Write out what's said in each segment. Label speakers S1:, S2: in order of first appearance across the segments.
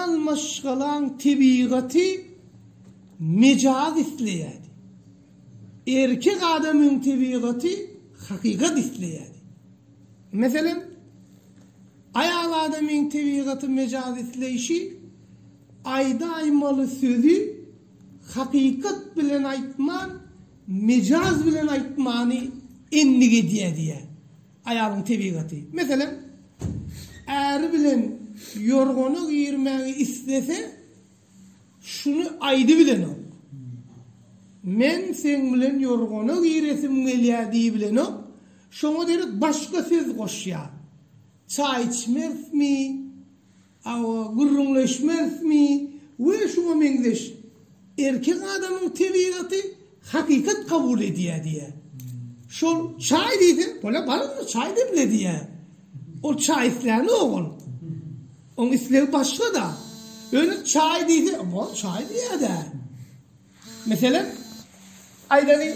S1: Almaşgalaň tebigaty mejaz isleýärdi. Erkek adamyň tebigaty hakykat isleýärdi. Meselem, aýal adamyň tebigaty mejaz isleýşi aýdaýmaly sözi hakykat bilen aýtman, mejaz bilen aýtmany endik edýär diýýär. Aýalyň tebigaty. Meselem, äri bilen ýorgana girmäge islese, şuny aýdybilenok. Men seň bilen ýorgana giresim gelýär diýibilenok, şoňa derek başga söz goşýar. Çaý içmezmi? Hawa, gürrüňleşmezmi we şuňa meňzeş. Erkek adamyň tebigaty hakykat kabul edýär diýýär. Şol çaý diýseň, bolýar, baryňda çaý demle diýýär. Ol çaý islänok ol. Oň islegi başga-da. Öni çaý diýse, bor, çaý diýýär-dä. Meselem, aýdaly,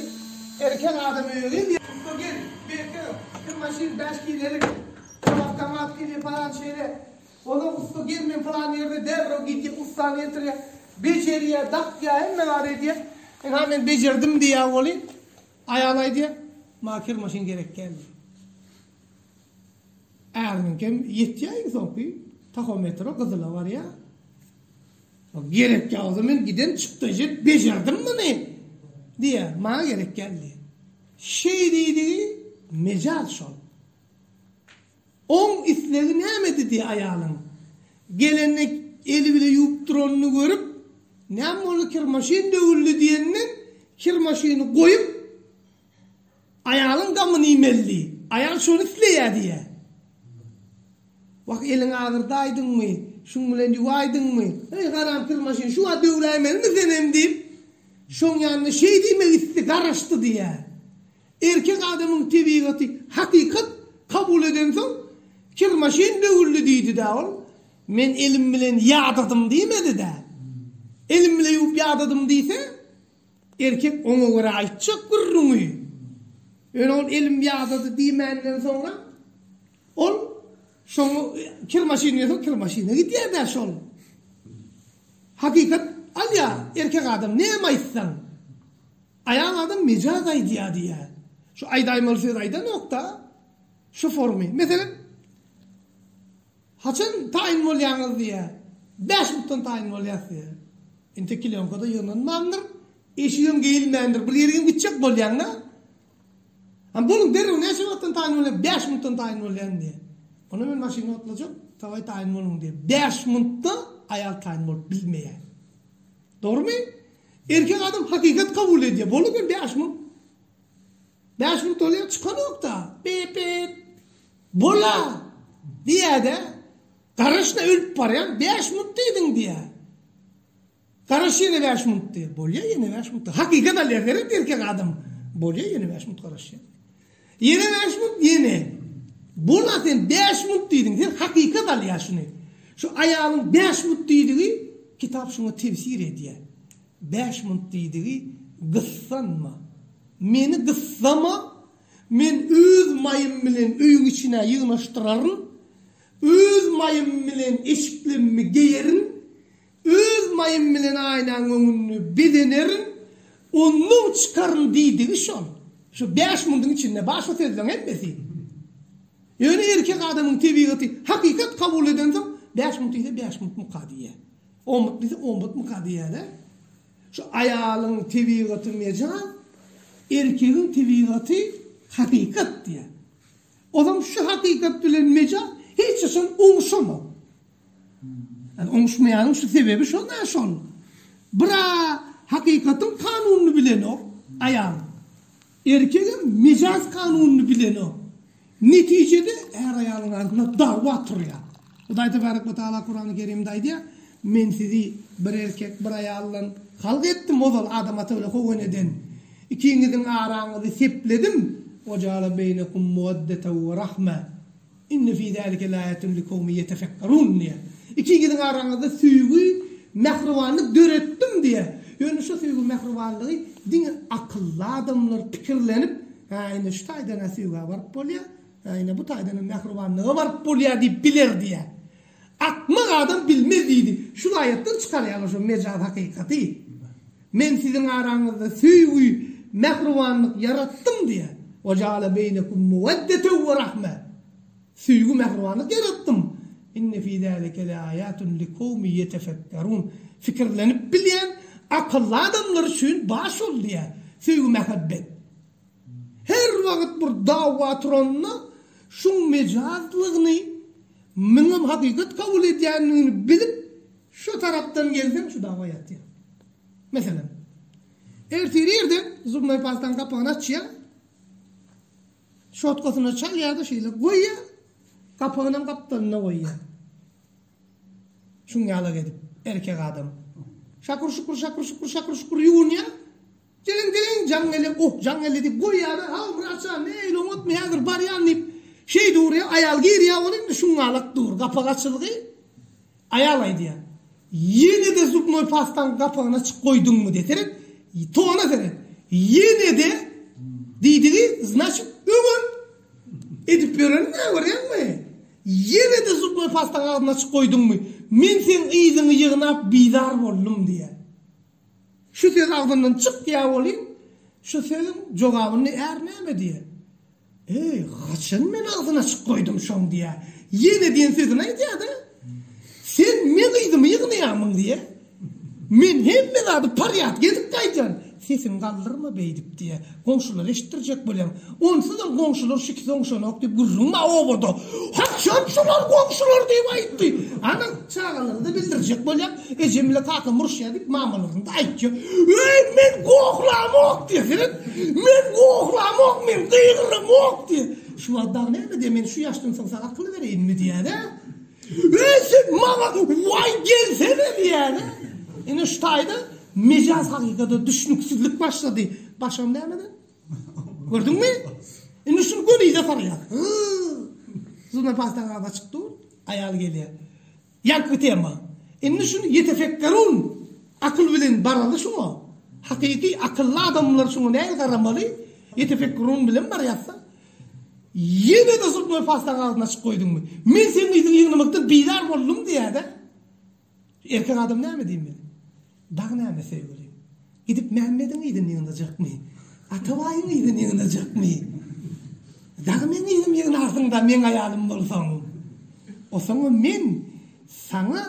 S1: erkek adam öýe geldi. Ussa gelin, beýtge, kim maşyn bäş kilelik, kim awtomat kile palan şeýle. Olar ussa gelin bilen pylan ýerde derrew gidýär, ussany getirýär, bejerýär, dakýar, hemme zady edýär. Ynha, men bejerdim diýýär weli, aýal aýdýar, maňa kir maşyn gerek däl diýýär. Äriniňkem ýetýär iň soňky tahometre gyzyla barýar. Gerek ýagdy, men giden çykdajy bejerdim muny! diýýär. Maňa gerek geldi. Şeý diýdigi mejaz şol. Oň islegi nämedi diýýär aýalyň. Gelende eli bile ýuwup duranyny görüp, Näme boldy, kirmaşyn döwüldi diýenden, kirmaşyny goýup, Aýalyň gamyny iýmeli. Aýal şony isleýär diýýär. Wah, eliň agyrdaýdyňmy, şuň bilen ýuwaýdyňmy? Heý, haramsyl maşyn, şu wagt döwläýmelimi senem diýip, şoň ýanyna şeý diýmek isdi, garaşdy diýýär. Erkek adamyň tebigaty hakykat kabul edensoň, Kir maşyn döwüldi diýdi-dä ol. Men elim bilen ýadadym diýmedi-dä. Elim bilen ýuwup ýadadym diýse. Erkek oňa görä aýtjak gürrüňi, ýöne ol elim ýadady diýmänden soňra, ol şoň kir maşyny ýöse kir maşyna gidýär-dä şol. Hakykat alýar, erkek adam näme aýtsaň, aýal adam mejaz aýdýar diýýär. Şu aýdaýmaly söz aýdanok-da, şu formy. Meselem. Haçan taýyn bolýaňyz diýýä. Bäş minutdan taýyn bolýas diýýä. Entek kilýonka-da ýygnanmandyr. Eşigem geýilmändir. Bir ýerigem gitjek bolýaň-da. Ha boluň derrew näçe wagtdan taýyn bolýaň? Bäş minutdan taýyn bolýan diýýä. Onda men maşyny otlajak, dawaý taýyn boluň diýýä. Bäş minutda aýal taýyn bolup bilmeýär. Dogrumy? Erkek adam hakykat kabul edýär. Boldy men bäş minut. Bäş minut bolýar, çykanok-da. Pip-pip. Bola, diýýä-de, Garaşda ölüp barýan, bäş munt diýdiň, diýýä. Garaş ýene bäş munt diýýä. Bolýa, ýene bäş munt. Hakykat alýa, heret erkek adam. Bolýa, ýene bäş munt garaş ýene. Ýene bäş munt, ýene. Bola, sen bäş munt diýdiň, sen hakykat alýa şuny. Şu aýalyň bäş munt diýdigi, kitap şuňa tefsir edýä. Bäş munt diýdigi, gyssanma. Meni gyssama, Men öz maýym bilen öýüň içine ýygnaşdyraryn, öz maýym bilen eşiklemmi geýerin, öz maýym bilen aýnaň öňüni bezenerin, ondan çykaryn diýdigi şol. Şu bäş mundyň içinde bar şu sözleň hemmesi. Ýöne erkek adamyň tebigaty hakykat kabul edensoň, bäş munt diýse bäş muntmyka diýýär. On munt diýse on muntmyka diýýär-dä. Şu aýalyň tebigaty mejaz, erkegiň tebigaty hakykat diýýär. Ozam şu hakykat bilen mejaz hiç haçan oňuşamok. Ýani oňuşmaýanyň şu sebebi şol dä şol. Bir-ä hakykatyň kanunyny bilenok aýal. Erkegem mejaz kanunyny bilenok. Netijede är-aýalyň arasynda dagba turýar. Hudaý Tebarek we Tagala Kurany Kerimde aýdýar, Men sizi bir erkek, bir aýaldan halk etdim, ozal Adam ata bilen Howa eneden. Ikiňiziň araňyzy sepledim, Ve jaala beýnekum muwaddeten we rahme. Inne fi zalike laýatun likowmi ýetefekkerun diýýär. Ikiňiziň araňyzda söýgi, mähribanlyk döretdim diýýär. Ýöne şu söýgi, mähribanlygy diňe akylly adamlar pikirlenip, Hä, ine şu taýdan-a söýgä baryp bolýar, hä, ine bu taýdan-a mähribanlyga baryp bolýar diýip biler diýýär. Akmak adam bilmez diýdi. Şul aýatdan çykarýaňyz şu mejaz hakykaty. Men siziň araňyzda söýgi, mähribanlyk ýaratdym diýýär. Wa jaala beýnekum muwaddetew wa rahme. Söýgi, mähribanlyk ýaratdym. Inne fi zalike leaýatun likowmi ýetefekkerun. Fikirlenip bilýän akylly adamlar üçin bar şol diýýär. Söýgi, mähebbet. Her wagyt bir dawa turanda şuň mejazlygyny, Muňam hakykat kabul edýändigini bilip, şu tarapdan gelseň şu dawa ýatýar. Meselem, ertir irden zubnoý pastaň gapagyny açýar, şotkasyna çalýar-da şeýle goýýar, gapagynam gapdalynda goýýar. Şuň ýalak edip, erkek adam. Şakur-şukur, şakur-şukur, şakur-şukur ýuwunýar. Geliň, geliň, jaň gele, oh, jaň gele diýip goýýalar. Hawa, Myrat jan, ne eýle oňatmy, häzir barýan diýip, şeý durýar. Aýal girýär, ol indi şuňňalak dur. Gapag açylgy, aýal aýdýar. Ýene-de zubnoý pastaň gapagyny açyk goýduňmy diýýär. Seret, tona seret. Ýene-de diýdigi, znaçit, öňem edip ýörenim-ä, görýäňmi? Ýene-de zubnoý pastaň agzyny açyk goýduňmy? Men seň yzyňy ýygnap bizar boldum, diýýär. Şu söz agzyndan çykýa welin, şu sözüň jogabyny är näme diýä? Eý, haçan men agzyny açyk goýdum şoň diýä. Ýene diýen sözüni aýdýa-da. Sen meň yzymy ýygnaýamyň diýä. Men hemme zady parýat gezip gaýdýan. Sesiňi galdyrma beýdip diýä. Goňşular eşitdirjek bolýaň. Onsuzam goňşular şikes oňşanok diýip gürrüň bar obada. Haçan şolar goňşular diýip aýtdy? Ana, çagalara-da bildirjek bolýaň. Ejem bilen kakam uruşýar diýip, mamalaryň-da aýtýar. Öý, men gohlamok diýýär. Seret, men gohlamok, men gygyramok diýýär. Şu wagt dagy näme diýýär, men şu ýaşdan soň saňa akyl bereýinmi diýýär-ä? Öý sen maňa waý gelsene diýýäne. Ine şu taýda mejaz hakykada düşnüksizlik başlady. Başam nämeden? Gördüňmi? Indi şuny gölize salýar. Zuna paýtaň az açyk dur. Aýal gelýär. Ýaňky tema. Indi şuny ýetefekkerun akyl bilen baraly şuňa. Hakyky akylly adamlar şuňa nähili garamaly? Ýetefekkerun bilen barýasda. Ýene-de sutmaý pastaňy agzyna açyp goýduňmy? Men seň yzyňy ýygnamakdan bizar boldum diýýä-dä. Erkek adam näme diýin men? Dagy näme söýgülim? Gidip Mämmediň yzyny ýygnajakmy? Atabaýyň yzyny ýygnajakmy? Dagy meň yzym ýygnarsyň-da, meň aýalym bolsaň. Osaňa men saňa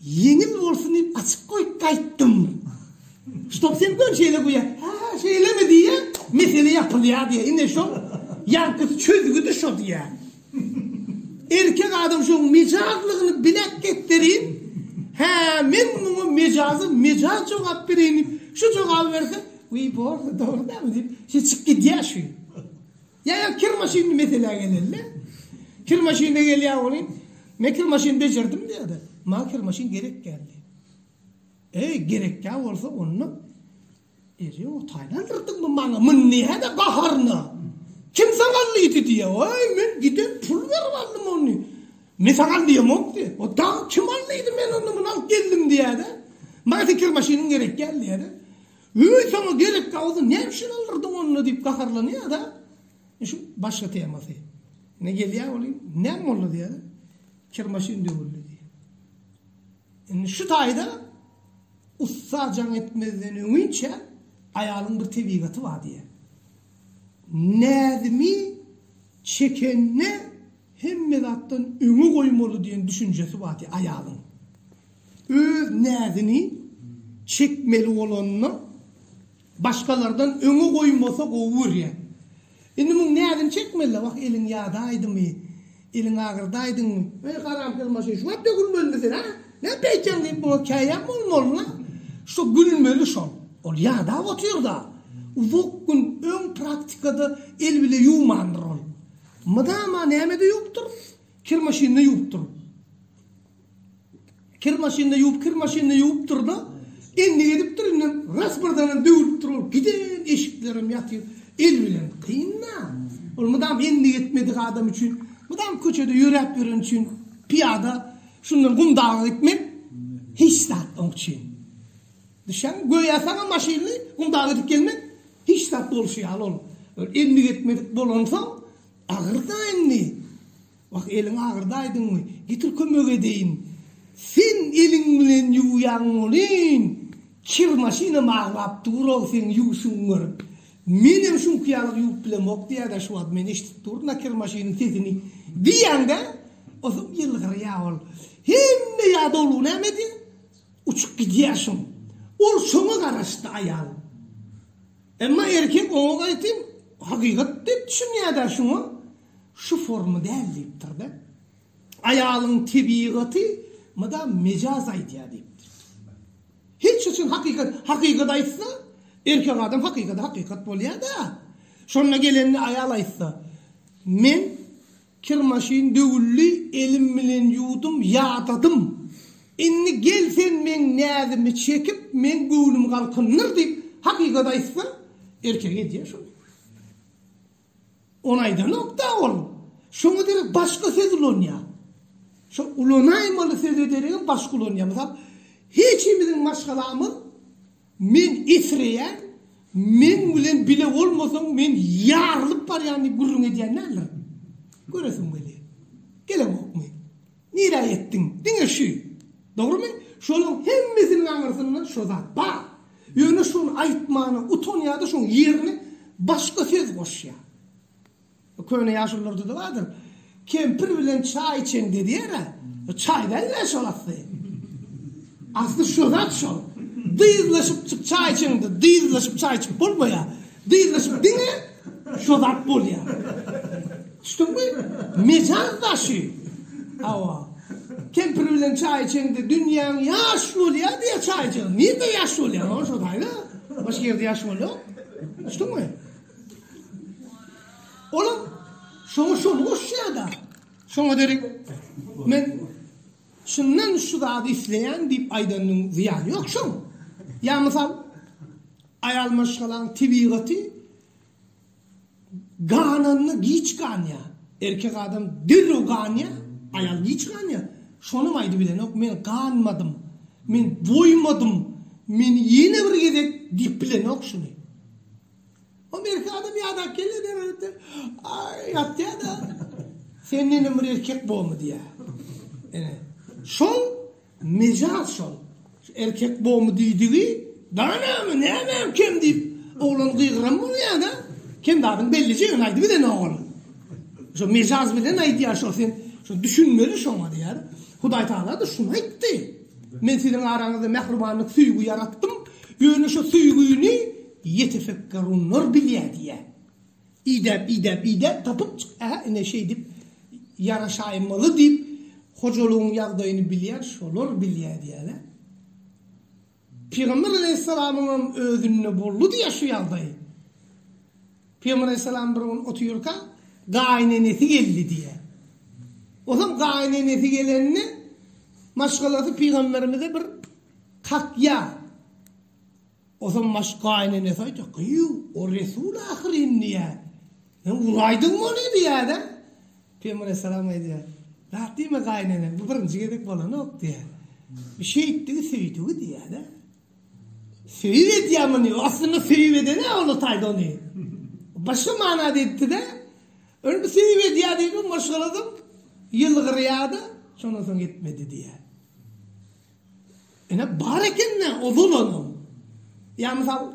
S1: Ýeňil bolsun diýip açyp goýup gaýtdym. Stop sen gör şeýle guýa. Ha, şeýlemi diýýä, mesele ýapylýar diýýä. Ine şol ýaňkysy çözgüdi şo diýýä. Erkek adam şoň mejazlygyny bilek getirin. Hä, men muňa mejazy mejaz jogap bereýin diýip, şu jogaby berse, wiý bolsa dogry dämi diýip, şeýle çykyp gidýär şu. Ýa-da kir maşynly meselä geleli. Kir maşynly gelýär welin, men kir maşyny bejerdim diýýär-de, maňa kir maşyn gerek geldi. Eý, gerekkä bolsa onda Eri o taýlandyrdyňmy maňa munny hä-de baharyna? Kim saňa alýdy diýýär. Oý, men giden pul berip aldym ony. Men saňa alýamok diýýär. O da kim alýdy men onda muny alyp geldim diýýär-de. Maňa sen kir maşynyň gerek geldi diýýär-de. Öý saňa gerek gauzy nämşin aldyrdyň onda diýip gaharlanýada şu başga temasy ine gelýä welin näme boldy diýýäda kir maşyn döwüldi diýýä indi şu taýda ussa jaň etmezden öňinçä aýalyň bir tebigaty bar diýýä näzimi çekende Hemme zatdan öňe goýmaly diýen düşünjesi bardy aýalyň. Öz näzini çekmeli bolanda başgalardan öňe goýmasa gowy görýär. Indi muň näzini çekmeli-le, wah eliň ýadaýdymy, eliň agyrdaýdyňmy. Eý haramkes maşyn şuwagt dökülmelimi sen ha? Näme beýtýäň diýip muňa käýäm bolmaly-la. Şo gülmeli şol. Ol ýadap otyr-da. Uzak gün öň praktikada el bile ýuwmandyr ol. Mydama nämede ýuwupdyr? Kir maşynynda ýuwupdyr. Kir maşynynda ýuwup, kir maşynynda ýuwupdyr-da, endik edipdir, indi ras birdenem döwülipdir ol. Giden eşiklerem ýatyr. El bilen kyn-da. Ol mydam endik etmedik adam üçin, mydam köçede ýöräp ýören üçin, pyýada şundan Gumdaga gitmek hiç zat oň üçin. Düşýäňmi? Göýä saňa maşynyny gumdaga edip gelmek hiç zat bolşy ýaly ol. Ol endik etmedik bolansoň, Agyrda indi. Wah, eliň agyrdaýdyňmy? Getir kömek edeýin. Sen eliň bilen ýuwýaň welin, kir maşynam aglap dur-ow seň ýuwşuňy görüp. Menem şuňky ýalyk ýuwup bilemok diýýä-dä şu wagt, men eşidip durun-a kir maşynyň sesini diýýäň-dä, osuň ýylgyrýa ol. Hemme ýadawlygy näme edýä? Uçup gidýär soň. Ol şoňa garaşdy aýal. Emma erkek oňa gaýtam hakykat diýip düşünýär-dä şuňa. Şu forma däl diýipdir-de. Aýalyň tebigaty mydam mejaz aýdýar diýipdir. Hiç haçan hakykat hakykat aýtsa, erkek adam hakykady hakykat bolýar-da. Şonda gelende aýal aýtsa, Men Kir maşyn döwüldi, elim bilen ýuwdum, ýadadym. Indi gel sen meň näzimi çekip, meň göwnümi galkyndyr diýip, hakykat aýtsa, erkek edýär şony. Ony aýdanok-da ol. Şoňa derek başga söz ulanýar. Şo ulanaýmaly söze deregem başga ulanýar. Mysal, hiçimiziň maşgalamyz. Men esreýän, meň bilen bile bolmasaň, men ýarylyp barýan diýip gürrüň edýän däldir. Göresim gelýär. Gelemokmy? Nirä ýetdiň? Diňe şu. Dogrumy? Şonuň hemmesiniň aňyrsynda şo zat bar. Ýöne şony aýtmana utanýar-da, şoň ýerine başga söz goşýar. Köne ýaşulylarda-da bardyr. Kempir bilen çaý içeň dediýer-ä. Çaý däl-le şol asly. Asly şu zat şol. Dyzlaşyp çyk çaý içeňde, dyzlaşyp çaý içip bolmaýar. Dyzlaşyp diňe şu zat bolýar. Düşdüňmi? Mejaz daşy. Hawa. Kempir bilen çaý içeňde dünýäň ýaş bolýar diýýär çaý içeňde. Nirede ýaş bolýar? Oňa şo taýda. Başga ýerde ýaş bolýar. Düşdüňmi? Olam şoňa şony goşýada. Şoňa derek men şundan şu zady isleýän diýip aýdanyň zyýany ýok şoň. Ýa mysal aýal maşgalaň tebigaty gananyny giç ganýa. Erkek adam derrew ganýa, aýal giç ganýa. Şonam aýdyp bilenok men ganmadym. Men doýmadym. Men ýene bir gezek diýip bilenok şuny. O merke adam ýadap gelýär derwezede. Aý, ýatýa-da. Sen menden bir erkek bomy diýýär. Ine, şol mejaz şol. Erkek bomy diýdigi, Danamy, nämem kem diýip, oglan gygyran bolýa-da. Kem zadyň bellije ýöne aýdyp eden ogul. Şo mejaz bilen aýdýar şo sen. Şo düşünmeli şoňa diýýär. Hudaý Tagala-da şuny aýtdy. Men siziň araňyzda mähribanlyk, söýgi ýaratdym. Ýöne şo söýgini Ýetefekkerunlar bilýär diýýär. Idäp, idäp, idäp tapyp çyk, Ä, ine şeýdip ýaraşaýmaly diýip, hojalygyň ýagdaýyny bilýän şolar bilýär diýýärler. Pygamber aleýhissalamyň hem özünde boldy diýýär şu ýagdaý. Pygamber aleýhissalam bir gün otyrka, gaýynenesi geldi diýýär. Ozal gaýynenesi gelende, maşgalasy pygamberimize bir kakýa. Osam baş gaýynenesi aýtdy, Gyýw, o resul ahyryn diýýär. Sen uraýdyňmy ony diýýär-de. Pygamber alaýhyssalam aýdýar, Zat diýme gaýynene, bu birinji gezek bolanok diýýär. Bu şeýtdigi, söýdügi diýýär-de. Söýüp edýär muny, aslynda söýüp eden-ä ol taýda ony. Başga manada etdi-de. Ol bu söýüp edýär diýip maşgala edip, ýylgyrýar-da, şondan soň etmedi diýýär. Ine bar ekende o bolanam. Ýa mysal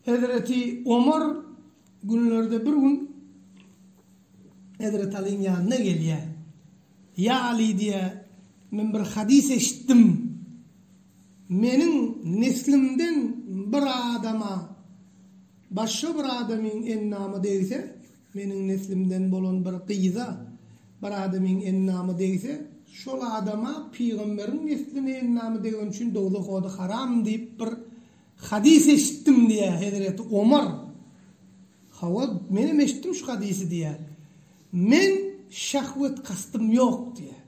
S1: Hezreti Omar günlerde bir gün Hezreti Alyň ýanyna gelýä. Ýa Aly diýä, men bir hadys eşitdim. Meniň neslimden bir adama başga bir adamyň endamy degse, Meniň neslimden bolan bir gyza bir adamyň endamy degse, şol adama pygamberiň nesline endamy degeni üçin dowzah ody haram diýip bir hadys eşitdim diýýär hezreti Omar. Hawa, menem eşitdim şu hadysy diýýär. Men şahwet kastym ýok diýýär.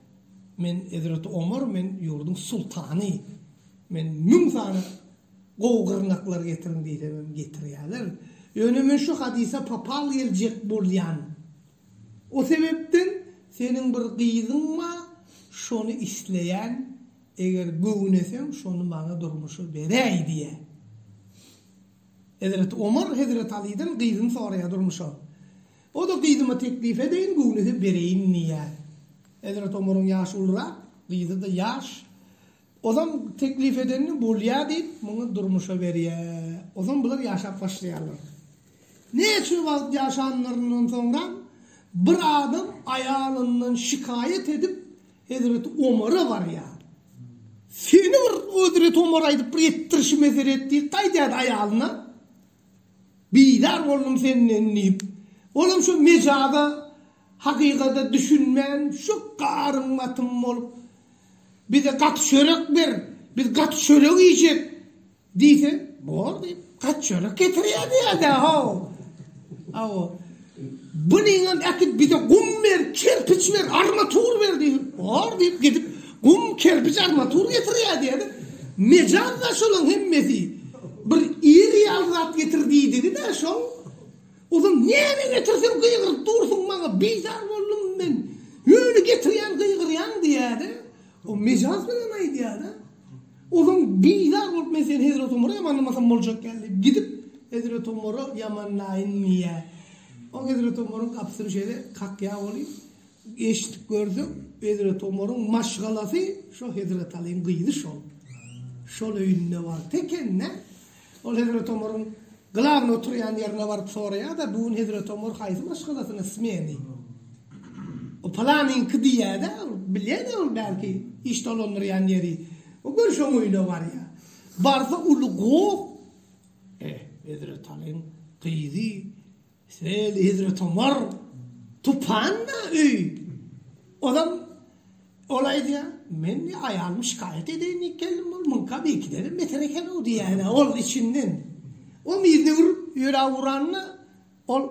S1: Men hezreti Omar, men ýurduň sultany. Men müň sany Gowy gyrnaklar getiriň diýsemem getirýäler. Ýöne men şu hadysa papal geljek bolýan. O sebepden seniň bir gyzyň bar, şony isleýän, eger göwneseň şony maňa durmuşa beräý diýýä. Hezreti Omar Hezreti Alydan gyzyny soraýar durmuşa. O-da gyzyma teklip edeýin, göwnese bereýin diýýär. Hezreti Omaryň ýaşy ulurak, gyzy-da ýaş. Ozan teklip edenini bolýa diýip muňa durmuşa berýä. Ozan bular ýaşap başlaýarlar. Näçe wagt ýaşanlaryndan soňra bir adam aýalyndan şikaýat edip Hezreti Omara barýa. Seni bir Hezreti Omara aýdyp bir etdirişi mesele et diýip gaýdýa aýalyna. Bizar boldum senden diýip. Olam şu mejaza Hakykata düşünmän şu garym gatym bolup bize gaty çörek ber, biz gaty çörek iýjek diýse, bor diýip, gaty çörek getirýär diýerdi haw. Hawa. Bu niňem äkidip bize gum ber, kerpiç ber, armatur ber diýse, bor diýip, gidip gum, kerpiç, armatur getirýär diýerdi. Mejaz-da şolaryň hemmesi. Bir iri ýaly zat getir diýdigi-de şol. Ozal näme getirsem gygyryp dursuň maňa bizar boldum men ýöne getirýän gygyrýaň diýýäde o mejaz bilen aýdýada ozal bizar bolup men seni Hezret Omara ýamanlamasam boljak däl diýip gidip Hezret Omara ýamanlaýyn diýýä o Hezret Omaryň gapysyny şeýle kakýa oly eşidip görsek Hezret Omaryň maşgalasy şo Hezret Alyň gyzy şol şol öýünde bar tekennä Ol hezreti Omaryň glawny oturýan ýerine baryp soraýar-da, bu gün hezreti Omar haýsy maşgalasyna smeni? O palanyňky diýýär-de, bilýär-de ol belki iş dolandyrýan ýeri. O görşi oň öýüne barýar. Barsa uly goh. Eh, hezreti Alyň gyzy. Şeýle Hezret Omar Tupanda öý. Olam ol aýdýar, men aýalymy şikaýat edeýin diýip geldim, ol muňka beýikidem beter eken-ow diýýär, ol içinden. Ol yzyna urip, ýöräp uranda, ol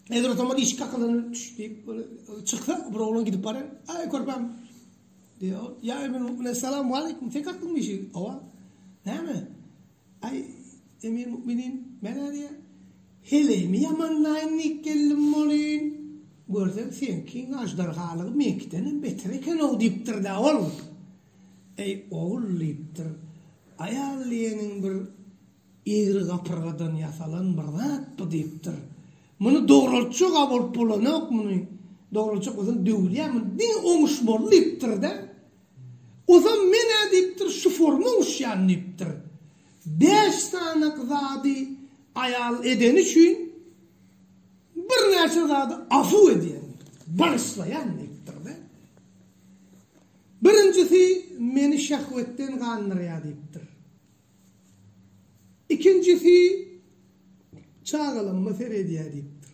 S1: Hezret Omar işik gakadan çüş diýip, çyksa, bir oglan gidip barýar. Aý, körpäm, diýýär ol. Ýa, men salam waleýkim, sen kakdyňmy işigi? Hawa. Näme? Aý, Emir-müminin, men-ä diýýä, heleýimi ýamanlaýyn diýip geldim welin, görsem, seňkiň aždarhalygy meňkidenem beter eken-ow diýipdir-dä ol. Eý, ogul, diýipdir, aýal diýeniň bir egri gapyrgadan ýasalan bir zat bu diýipdir. Muny dogruljak-a bolup bolanok muny. Dogruljak bolsaň döwülýär muny. Diňe oňuş bol diýipdir-de. Ozam men-ä diýipdir şu forma uçýan diýipdir. Bäş sanak zady aýal edeni üçin birnäçe zady afuw edýän, bagyşlaýan diýipdir-de. Birinjisi meni şehwetden gandyrýar diýipdir. Ikinjisi çagalaryma seredýär diýipdir.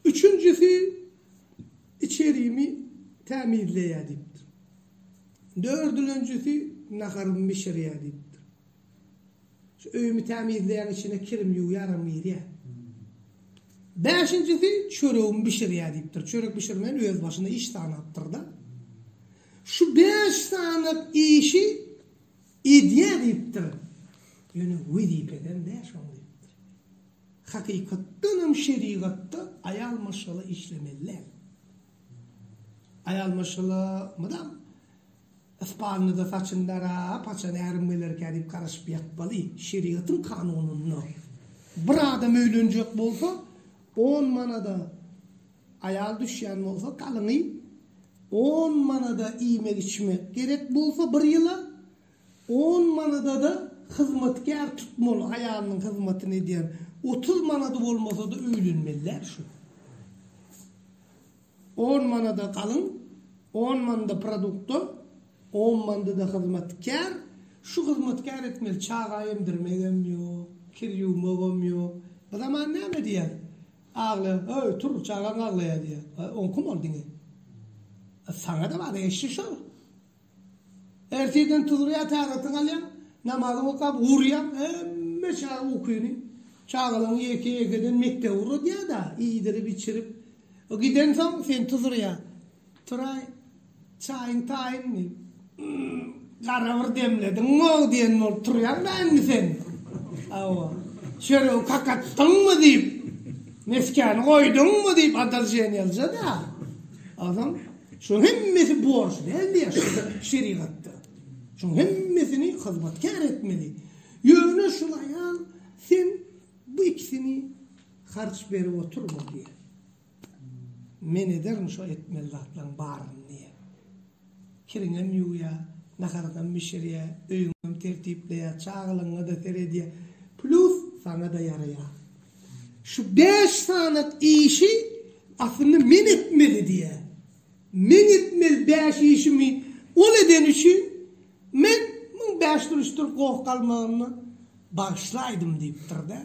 S1: Üçünjisi içerimi tämizleýär diýipdir. Dördülenjisi naharymy bişirýär diýipdir. Şu öýümi tämizleýän içine kirim ýuwýaram girýär. Bäşinjisi çöregimi bişirýär diýipdir. Çörek bişirmeýän öz başyna iş sanapdyr-da. Şu bäş sanap işi Edýär diýipdir. Ýöne wezipeden däl şoňa diýipdir. Hakykatdan hem şerigatda aýal maşgala işlemeli däl. Aýal maşgala mydam Ispanýada saçyny darap, haçan ärim gelerkä diýip garaşyp ýatmaly. Şerigatyň kanunynda bir adam öýlenjek bolsa, on manada, Aýal düşýän bolsa galyňy on manada iýmek-içmek gerek bolsa bir ýyla, on manada-da hyzmatkär tutmaly, aýalynyň hyzmatyny edýän, otuz manady bolmasa-da öýlenmeliler şu. On manada galyň, on manda produkta, on mandada hyzmatkär, şu hyzmatkär etmeli, çaga emdirmegem ýok, kir ýuwmagam ýok. Bu zaman näme diýer? Aglaýan, Aý, tur, çagaň aglaýar diýýär. Aý, oň kim ol diňe? A saňa-da bar eşşi şol. Ertirden turýar, täretini alýar, namazyny okap, urýar, hemme çaga ukyny. Çagalaryňy ýeke-ýekeden mekdebe ugradýar-da, iýdirip-içirip. Gidensoň, seni tuzurýar. Turaý. Çaýyň taýyny gara bir demlediň-ow diýen bolup turýaň da indi sen. Hawa. Çöregi kakatdyňmy diýip, meskäni goýduňmy diýip adaljenýalja-da. Adam şuň hemmesi borç dälmi ýa şerigatda. Şuň hemmesini hyzmatkär etmeli. Ýöne şul aýal sen bu ikisini harç berip oturma diýýär. Men ederin şo etmeli zatlaryň baryny diýýä. Kiriňem ýuwýa, naharyňam bişirýä, öýüňem tertipleýä, çagalaryňa-da seredýä. Plýus saňa-da ýaraýa. Şu bäş sanat işi aslynda men etmeli diýýä. Meň etmeli bäş işimi ol edeni üçin Men müň bäş duruşdyr goh galmagynda bagyşlaýdym diýipdir-dä.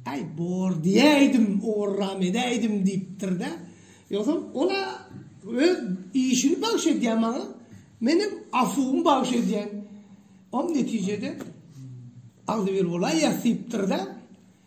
S1: Äý, bor diýäýdim, ugurram edäýdim diýipdir-dä. Ýogsam, ol-a öz işini bagyş edýär maňa, menem afuwymy bagyş edýän. Oň netijede agzybir bolaýýas diýipdir-dä.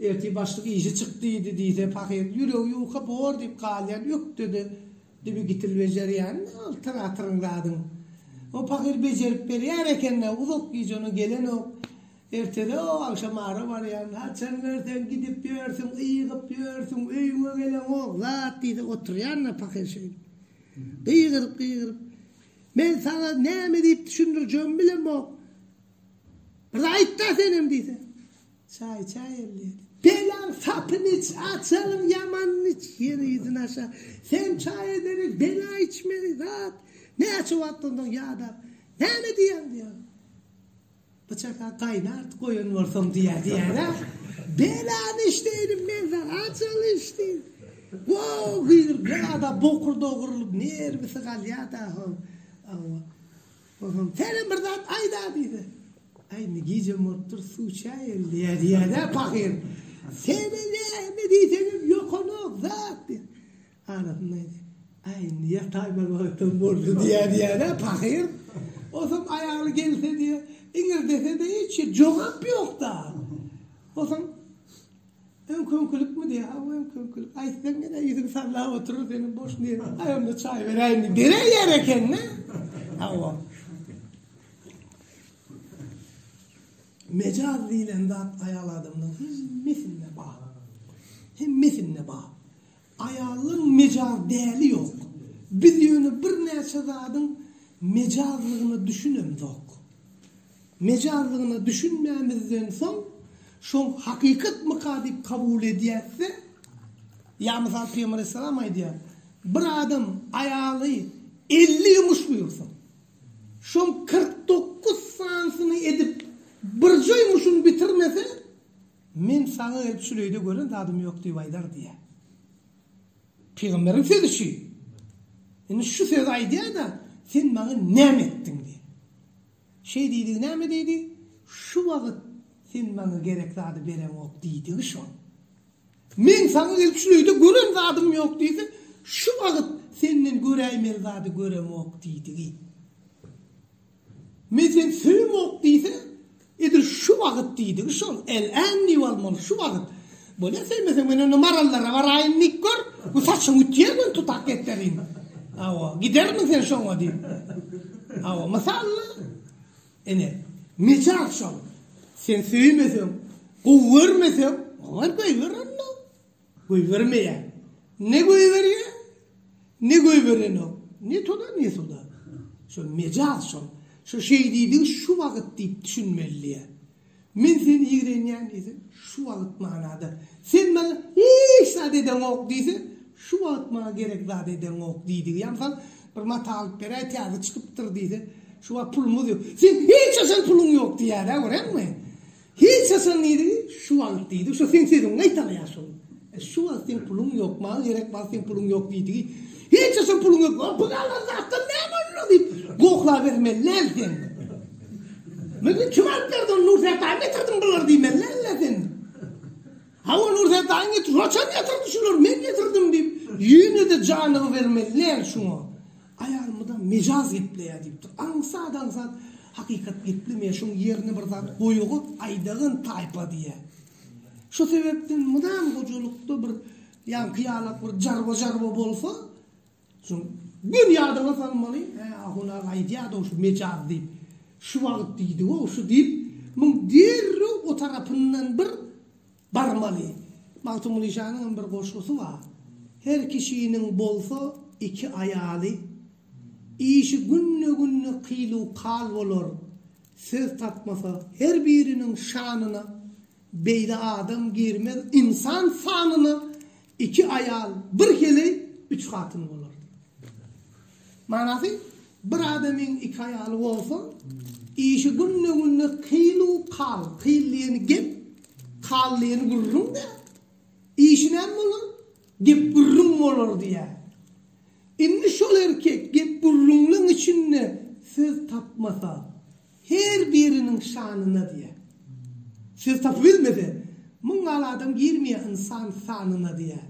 S1: Ertir başlyk işi çyk diýdi diýse pahyryň ýüregi ýuka bor diýip galýan ökdede dibi gitil bejerýän altyr atyryň zadyň o pahyr bejerip berýär ekende uzak gije ona gelenok ertede o agşam ara barýan haçan görseň gidip ýörsüň ygyp ýörsüň öýüňe geleňok zat diýse oturýanda pahyr şeýdip gygyryp gygyryp men saňa näme diýip düşündirjegimi bilemok bir aýtda senem diýse Çaý çaý elleýin. Belaň sapyny iç, açalyň ýamanyny iç, ýer yzyny aşa. Sen çaý ederek bela içmegi zat, näçe wagtdan soň ýadap, Näme diýýäň diýýär. Bu çaga gaýnart goýan bolsaň diýýär diýýär-ä. Belany iç diýdim men saňa, açaly iç diýdim. Wow, gyzyl, bir adam bokurdagy gyrlyp, nerwisi galýar-da, hawa. Onsoň Kerem bir zat aýda diýdi. Aý, indi gijäm bolupdyr, suw çaý geldi-ä diýýär-dä pahyr. Seredäýme diýsegem ýokanok zat diýýär. Arasynda aýdýar. Aý, indi ýataýmaly wagtam boldy diýýär diýýär-ä pahyr. Onsoň aýaly gelse diýýär, iňirdese-de hiç jogap ýok-da. Onsoň. Öňki-öňkülikmi diýýär. Hawa, öňki-öňkülik. Aýtsaň ýene ýüzüňi sallap oturar seniň boş niresiň. Aý, onda çaý beräýin diýip beräýýär eken-dä. Hawa. Mejaz diýlen zat aýal adamlaryň hemmesinde bar. Hemmesinde bar. Aýalyň mejaz däli ýok. Biz ýöne birnäçe zadyň mejazlygyna düşünemzok. Mejazlygyna düşünmämizden soň şoň hakykatmyka diýip kabul edýäs-de, ýa mysal Pygamber aleyhissalam aýdýar, Bir adam aýaly elli ýumuş buýursa, şoň kyrk dokuz sanysyny edip birje ýumuşyny bitirmese, Men saňa gelip şüleýde gören zadym ýok diýip aýdar diýýär. Pygamberiň sözi şu. Indi şu sözi aýdýar-da, sen maňa näme etdiň diýýär. Şeý diýdigi näme diýdi? Şu wagt sen maňa gerek zady bereňok diýdigi şo. Men saňa gelip şüleýde gören zadym ýok diýse, şu wagt senden göräýmeli zady göremok diýdigi. Men seni söýemok diýse, edil şu wagyt diýdigi şol, el-än diýip almaly, şu wagyt. Bolýa, söýmeseň men onda marallara baraýyn diýip gör, bu saçyňy ütýän gün tutak getirin. Hawa, gidermiň sen şoňa diýip. Hawa, mysal-da. Ine, mejaz şol. Sen söýmeseň, gowy görmeseň, olar goýber onda. Goýbermeýär. Ne goýberýär, ne goýberenok. Ne toda, ne suda. Şol mejaz şol. Şu şeýdidigi şu wagt diýip düşünmeli diýýä. Men seni ýigrenýän diýse, şu wagt manada. Sen maňa hiç zat edeňok diýse, şu wagt maňa gerek zat edeňok diýdigi. Ýa mysal, bir mata alyp beräý, täze çykypdyr diýse, şu wagt pulumyz ýok. Seň hiç haçan puluň ýok diýýär-ä, görýäňmi? Hiç haçan diýdi, şu wagt diýdi, şo seň sözüňi gaýtalaýar şol. Şu wagt seň puluň ýok, maňa gerek wagt seň puluň ýok diýdigi, hiç haçan puluň ýok, o pul alan zatdan näme boldy diýip, gohlabermeli älä sen. Bildim, kim alyp berdi ony, Nurserdaýyň getirdim bulary diýmeli älä sen. Hawa, Nurserdaýyň getirdi, haçan getirdi şulary, men getirdim diýip, ýene-de janygy bermeli älä şuňa. Aýal mydam mejaz gepleýär diýip dur. Aňsat aňsat hakykat geplemeýär. Şoň ýerine bir zat goýaga aýdagyn taýpa diýýär. Şo sebäpden mydam gojalykda bir ýaňky ýalak bir jarba jarba bolsa, şoň gün ýadyňa salmaly, hä ahun aga aýdýardy şu mejaz diýip. Şu wagt diýdi-ow şu diýip, muň derrew o tarapyndan bir Barmaly. Magtymguly Janyň hem bir goşgusy bar, Her kişiniň bolsa iki aýaly, Işi günde-günde kyl-u-kal bolar, Söz tapmasa her biriniň şanyna, Beýle adam girmez ynsan sanyna, Iki aýal bir heleý üç hatyn bolardy. Manasy, bir adamyň iki aýaly bolsa, işi günde-günde kyl-u kal, kyl diýeni gep, kal diýeni gürrüň-dä. Işi näme bolar? Gep-gürrüň bolar diýýär. Indi şol erkek gep-gürrüňliň içinde söz tapmasa, Her biriniň şanyna diýýär. Söz tapybilmese, Müň gal adam girmeýär ynsan sanyna diýýär.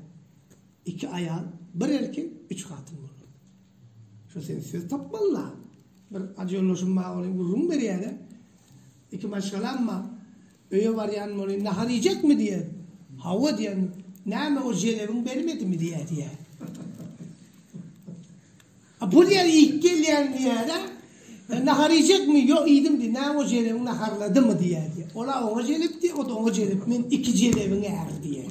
S1: Iki aýal, bir erkek, üç hatyn bolar. Şo sen söz tapmaly-la. Bir ajy ýoldaşym bar, ony gürrüň berýär-de. Iki maşgalam bar. Öýe barýan bolýan, nahar iýjekmi? diýýär. Hawa diýýän. Näme, o jelebiň bermedimi? diýýär, diýýär. A bu diýýär, iýip gelýän diýýär-ä. E, nahar iýjekmi? Ýok, iýdim diýýär. Näme, o jelebiň naharladymy? diýýär, diýýär. Ol-a oňa jelep diýýär, o-da oňa jelep. Men iki jelebiň äri diýýär.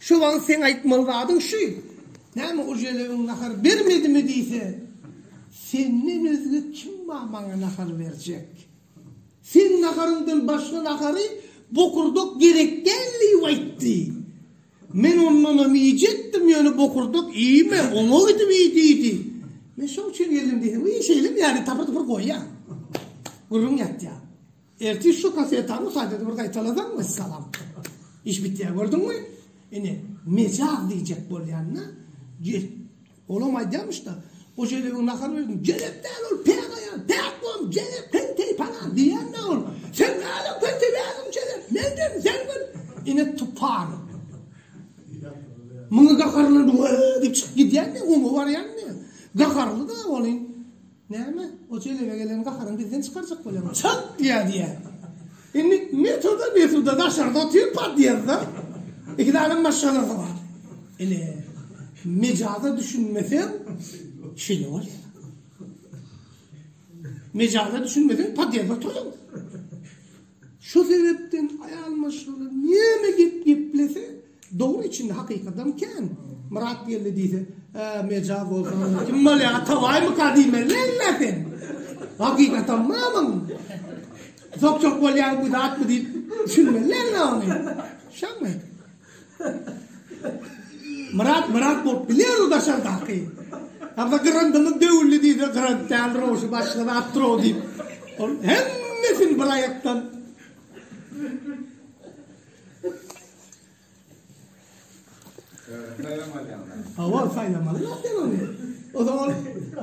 S1: Şu wagt seň aýtmaly zadyň şu, näme ujelewiň nahar bermedimi diýse, senden özge kim bar maňa nahar berjek? Seň naharyňdan başga nahary bokurdak gerek däl diýip aýtdy. Men ondanam iýjekdim, ýöne bokurdak iýme, oňa gidip iý diýdi. Men şoň üçin geldim diýsem, iý şeýlem ýaly tapyr-tupyr goýýar. Gürrüň ýatýar. Ertir şu kasetany gaýtadan bir gaýtalasaň wessalam. Iş bitýär gördüňmi? Ine mejaz diýjek bolýanda gel. Olam aýdýamyşda o jelebiň nahar berdim. Jelep däl ol päk aýal. Päk bom jelep penteý palan diýýände ol. Sen nädip penteý berdiň jelep. Men berdim sen bil. Ine tupar. Muňa gaharlanyp we diýip çykyp gidýän diýip oňa barýan diýip. Gaharly da olyň. Näme, o jelebe gelen gaharyňy bizden çykarjak bolýaňmy? Çalt diýýär, diýýär. Indi Mesuda, Mesuda daşarda otyr, podýezde iki sany maşgalasy bar. Ine, mejaza düşünmeseň, şeýle bolýar. Mejaza düşünmeseň, podýezde oturýaň. Şo sebäpden aýal maşgala näme gep geplese, dogry içinde hakykadam kän. Myrat geldi diýse, Hä, mejaz bolsa onda kim bolýar, Atabaýmyka diýmeli näme sen? Hakykatam mamam. Zok-zok bolýar bu zatmy diýip düşünmeli näme ony. Şamy? Myrat Myrat bolup biler o daşardaky. Hamza gyryndymy döwüldi diýse gyrant däl rowşy başga zat trow diýip. Ol hemmesini bir aýakdan Hawa saýlamaly zat sen ony. O zaman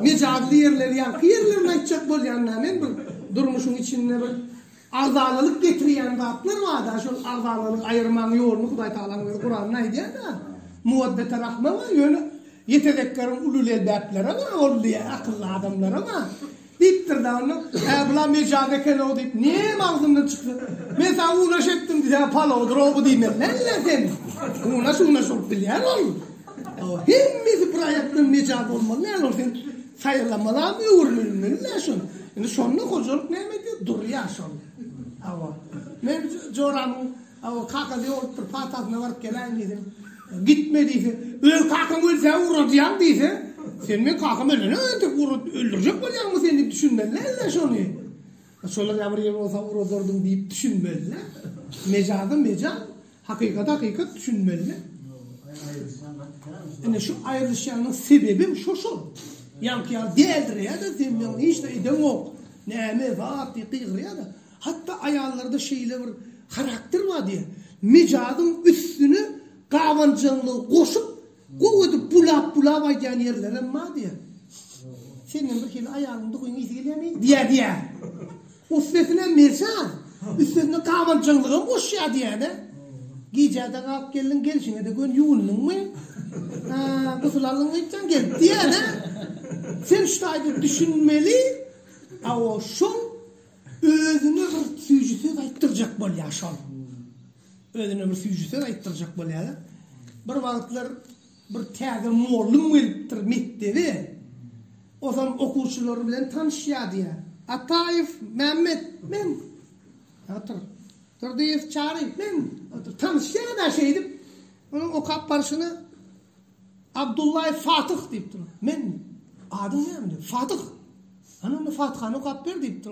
S1: mejazly ýerleri ýaňky ýerlerini aýtjak bolýan näme men bir durmuşyň içinde bir Agzalalyk getirýän zatlar barda şol agzalalygy aýyrmaň ýoluny Hudaý Tagalaň özi Kuranda aýdýada. Muwaddete rahme bar ýöne ýetezekkeriň uly lelbäpleri bar ol diýýä akylly adamlara bar diýipdirda onda hä bular mejaz ekenw diýip näme agzyndan çyksa men saňa unaş etdim diýse palawdyrow bu diýmezler ýa sen unaş unaş bolup bilýär ol hemmesi bir aýakdan mejaz bolmaly däl ol sen Saýylamalam öwrülmeli dä şol. Indi şonda hojalyk näme edýär? Durýar şol. Hawa. Men joramyň hawa kakasy ýolupdyr, patasyna baryp geläýin diýdim. Gitme diýse, öz kakaň ölse ugradýaň diýse, sen meň kakam ölene entek ugrad, öldürjek bolýaňmy sen diýip düşünmeliler-de şony. Şolar ýa bir ýer bolsa ugradardym diýip düşünmeliler. Mejaza mejaz. Hakykata hakykat düşünmeli. Ine şu aýrylyşýanyň sebebim şo şol. Ýaňky ýaly däldir ýa-da zemýan hiç zat edeňok. Näme zat diýip gygyrýar-da. Hatda aýallarda şeýle bir harakter bar diýýär. Mejazyň üstüne gabanjaňlygy goşup Gowy edip bulap bulap aýdýan ýerlerem bar diýer. Senden bir hili aýalyň duhyň ysy gelýärmi? diýer diýer. Üstesine Merjan üstesine gabanjaňlygam goşýar diýäne. Gijä-de galyp geldiň, gelşiňe-de gön ýuwundyňmy? Hä, gusul aldyňmy itjan gelip diýäne. Sen şu taýda düşünmeli, awo şol özüne bir süýji söz aýtdyrjak bolýar şol. Özüne bir süýji söz aýtdyrjak bolýar-da. Bir wagtlar bir täze mollum gelipdir mekdebe. Ozam okuwçylary bilen tanyşýar diýýär. Ataýew Mämmet, men. Otur. Durdyýew Çary, men. Otur. Tanyşýar-da şeýdip. Onuň okap barşyna Abdullaýew Fatyh diýipdir. Men. Adyň näme? Fatyh. Hany onda Fatyhany okap ber diýipdir.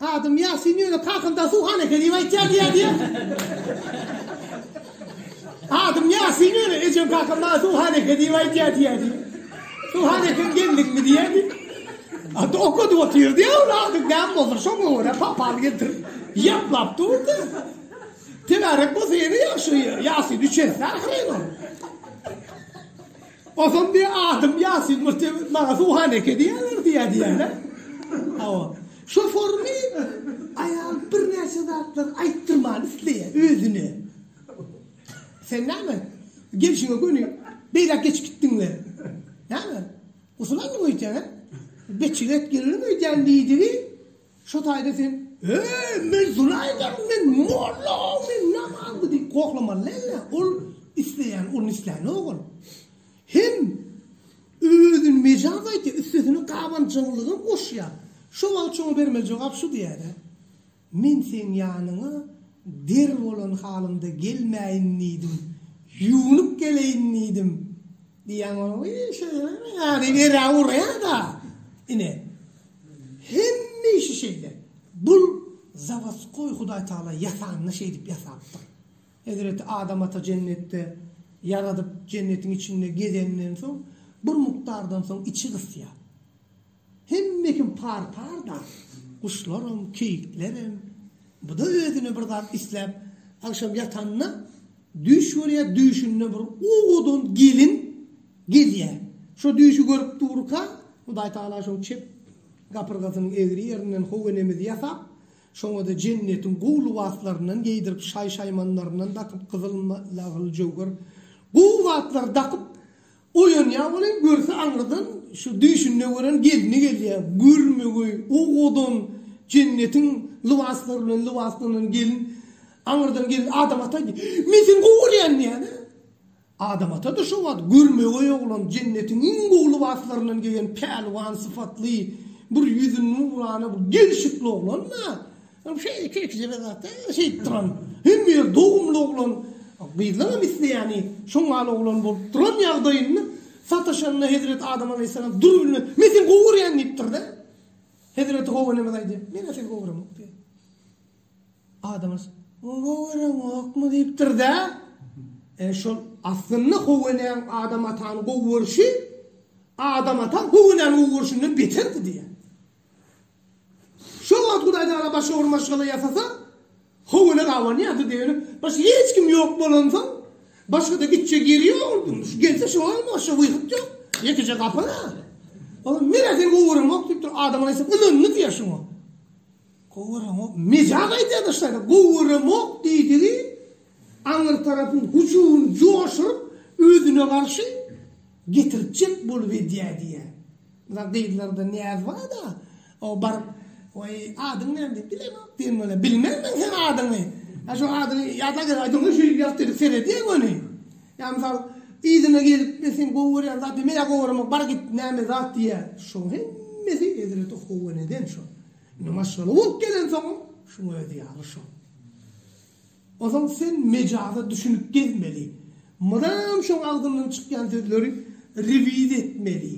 S1: Adam Ýasin ýöne kakynda suwhana eken diýip aýtýar diýýär diýýär. Adam Ýasin ýöne ejem kakynda suwhana eken diýip aýtýar diýýär diýýär. Suwhana eken geldiňmi diýýär diýip. Ata okadyp otyr diýýär ol adam näme boldur şoňa görä papal getir. Ýaplap durdy. Tebärek bolsa ýene ýagşy Ýasin üçesini ahyry ol. Otam diýýär, Adym Ýasin, muhte maňa Suhaneke diýýärler diýýär diýýärler. Hawa. Şoformy aýal birnäçe zatlar aýtdyrmany isleýär özüne. Sen näme, gelşiňe göni beýläk geçip gitdiňmi? Näme, gusul aldyňmy öýdýän, hä? Beçjigek geldim öýdýän diýdigi. Şo taýda sen Eý, men zulaýdar, men molla, men namazly diýip gohlamaly däl-ä. Ol isleýän, ol nisläni-ok ol. Hem özüni mejaz aýtýar, üstesine gabanjaňlygam goşýar. Şo wagt şoňa bermeli jogap şu diýýär-ä, Men seň ýanyňa der bolan halymda gelmäýin diýdim, ýuwnup geleýin diýdim. Diýýän bolany şeýleräk ýaly ýere urýar-da. Ine, hemme işi şeýle. Bu zawodskoý Hudaý Tagala ýasanyny şeýdip ýasapdyr. Hezreti Adam ata jennetde ýaradyp, jennetiň içinde gezeninden soň, bir mukdardan soň içi gysýar. Hemme kim par-parda, guşlaram, keýiklerem. Bu-da özüne bir zat isläp, agşam ýatanda düýş görýär, düýşünde bir owadan gelin gelýär. Şo düýşi görüp durka, Hudaý Tagala şoň çep gapyrgasynyň egri ýerinden howenemiz ýasap, şoňa-da jennetiň gowy lybaslaryndan geýdirip, şaý-şaýmanlaryndan dakyp, gyzyl, lagyl, jöwher, gowy zatlary dakyp, Oýanýar welin, görse aňyrdan şu düýşünde gören gelni gelýär, görme-göý, owadan, jennetiň lybaslary bilen lybaslanan gelin. Aňyrdan gelin Adam ata diýýär. Hii, men seni gowy görýän diýýär-de. Adam ata-da şo wagt görme-göý oglan, jennetiň iň gowy lybaslaryndan geýen, pälwan sypatly, bir ýüzi nurana, bir gelşikli oglan-da. Ol şeýle iki-iki jebel zatda şeýdip duran. Hemme ýer dogumly oglan, gyzlaram isleýäni, şoň ýaly oglan bolup duran ýagdaýynda sataşanda hezreti Adam alaýhyssalam dur bilmez, Men seni gowy görýän diýipdir-de. Hezreti Howa enemez aýdýar, Men-ä seni gowy göremok diýýär. Adam alaýhys, Gowy göremokmy diýipdir-de. E şol aslynda Howa enäň Adam atany gowy görşi Adam ata Howa enäni gowy görşünden beterdi diýýär. Şol wagt Hudaýtagala başga bir maşgala ýasasa, howine gabanýardy diýeni, başga hiç kim ýok bolansoň, başga-da gitjek ýeri ýokdy. Şu gelse şoňam başga wyhyt ýok. Ýekeje gapy-da. Olam menä seni gowaramok diýipdir. Adamlar eýsem ynandy diýýär şoňa. Gowaramok. Mejaz aýdýar daş taýdan. Gowaramok diýdigi aňry tarapyň hüjümini joşuryp, özüne garşy Getirtjek bolup edýä diýýä. Muna gyzlarda näz bar-da, o baryp, Weý, adyň näme diýip bilemok diýen bolýa. Bilmen men seň adyňy. Ýa şu adyňy ýadap gel aýdyň-da şeýdip ýat diýip seredýäň ony. Ýa mysal, yzyna gelip, men seni gowy görýän zat diýip, men ýa gowy göremok, bar git, näme zat diýýä. Şoň hemmesi hezreti Huweneden şo. Indi maşgala bolup gelensoň, şuň özi ýaly şo. Onsoň sen mejaza düşünip gezmeli. Mydam şoň agzyndan çykýan sözleri rewiz etmeli.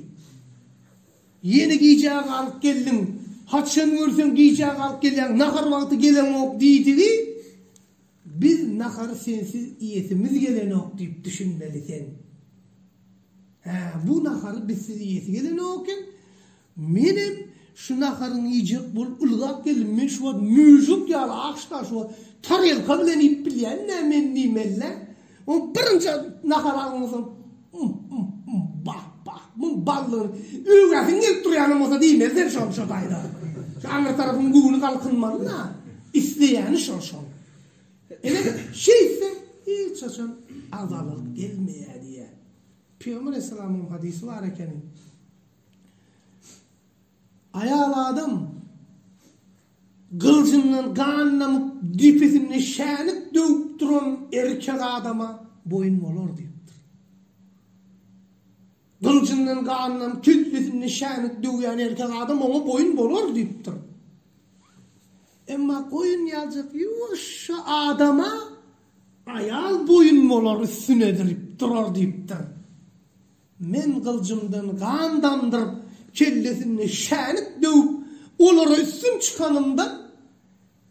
S1: Ýene gijä galyp geldiň. Haçan görseň gijä galyp gelýäň, nahar wagty geleňok diýdigi, biz nahary sensiz iýesimiz gelenok diýip düşünmeli sen. Hä, bu nahary bizsiz iýesi gelenok eken. Menem şu naharyňy iýjek bolup ylgap geldim, men şu wagt müžük ýaly aşda şu wagt tarelka bilen iýip bilýän nä men diýmeli-dä. Oň birinji nahary alanyňdan soň Ym-ym-ym, bah-bah, muň ballygyny öwgäsiň gelip durýanam bolsa diýmeli sen şony şo taýda. Şu aňry tarapyň göwni galkynmaly-da. Isleýäni şo şoň. Ine, şeýtse hiç haçan azalalyk gelmeýär diýýär. Pygamber alaýhyssalamyň hadysy bar ekeni. Aýal adam gylyjyndan gan damyp, depesinde şänik döwüp duran erkek adama boýun bolar diýipdir. Gylyjyndan gan damyp, tüýsüsinde şänik döwýän erkek adam oňa boýun bolar diýipdir. Emma goýun ýaljak ýuwaşja adama aýal boýun bolar üstüne edilip durar diýipdir. Men gyljymdan gan damdyryp, kellesinde şänik döwüp, olara üstün çykanymda,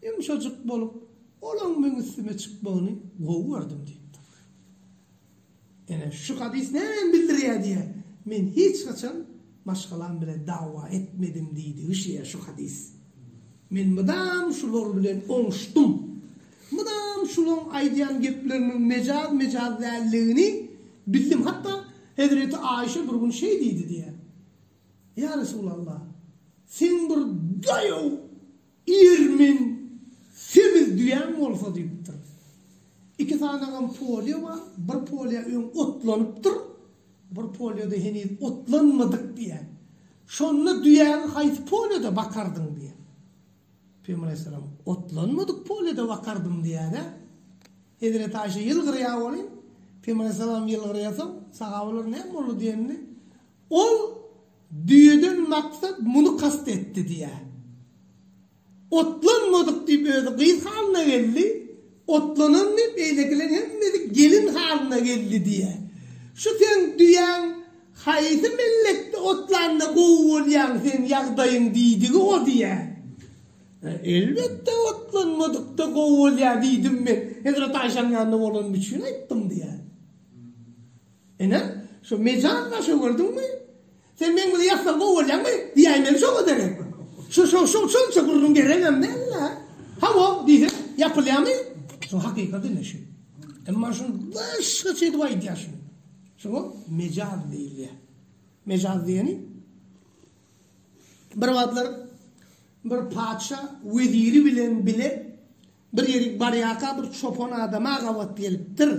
S1: ýumşajyk bolup, olaň meň üstüme çykmagyny gowy gördüm diýipdir. Ine, şu hadys nämäni bildirýär diýýär, Men hiç haçan maşgalam bilen dawa etmedim diýdigi şeýle şu hadys. Men mydam şular bilen oňuşdym. Mydam şulaň aýdýan gepleriniň mejaz-mejaz däldigini bildim. Hatda hezreti Aişe bir gün şeý diýdi diýýär, Ýa Resulallah, seň bir daýaw, irmen, semiz düýäň bolsa diýipdir. Iki sanagam polýa bar, bir polýa öň otlanypdyr, bir polýada heniz otlanmadyk diýýär. Şonda düýäňi haýsy polýada bakardyň diýýär. Pygamberaleyhisselam, Otlanmadyk polede bakardym diýýär-ä. Hezreti Aýşe, Ýylgyrýar welin, Pygamberaleyhisselam ýylgyrýarsoň, sahabalar näme boldy diýende, Ol düýeden maksat muny kast etdi diýýär. Otlanmadyk diýip özi gyz halyna geldi. Otlanandy, beýlekiler hemmesi gelin halyna geldi diýýär. Şu seň düýäň haýsy mellekde otlanda gowy bolýaň sen ýagdaýyň diýdigi o diýýär. Elbetde otlanmadykda gowy bolýar diýdim men. Hezreti Aýşanyň ýanynda bolanym üçin aýtdym diýýär. Ine, şu mejaz başa gördüňmi? Sen meň bizi ýaslap kowalýaňmy? diýäýmeli şoňa derek. Şo-şo-şo şonça gürrüň geregem däl-le. Hawa, diýse, ýapylýamy? Şo hakykat ine şu. Emma şuny başgaça edip aýdýar şuny. Şoňa mejaz diýilýär. Mejaz diýeni bir wagtlar bir patyşa weziri bilen bile bir ýerik barýarka bir çopan adama gabat gelipdir.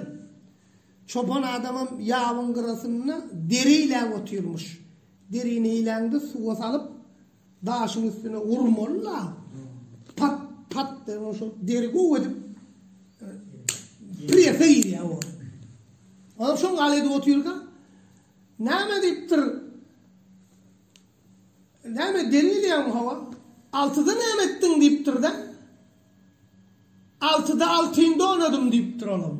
S1: Çopan adamam ýabyň gyrasynda deri iýläp otyrmyş. Derini iýläňde suwa salyp, daşyň üstüne urmaly-la. Pat, pat diýip, onuň şol deri gowy edip presa iýýär ol. Onam şol gal edip otyrka, Näme diýipdir? Näme deri iýýäňmi, hawa? Altyda näme etdiň diýipdir-de. Altyda altyn donadym diýipdir olam.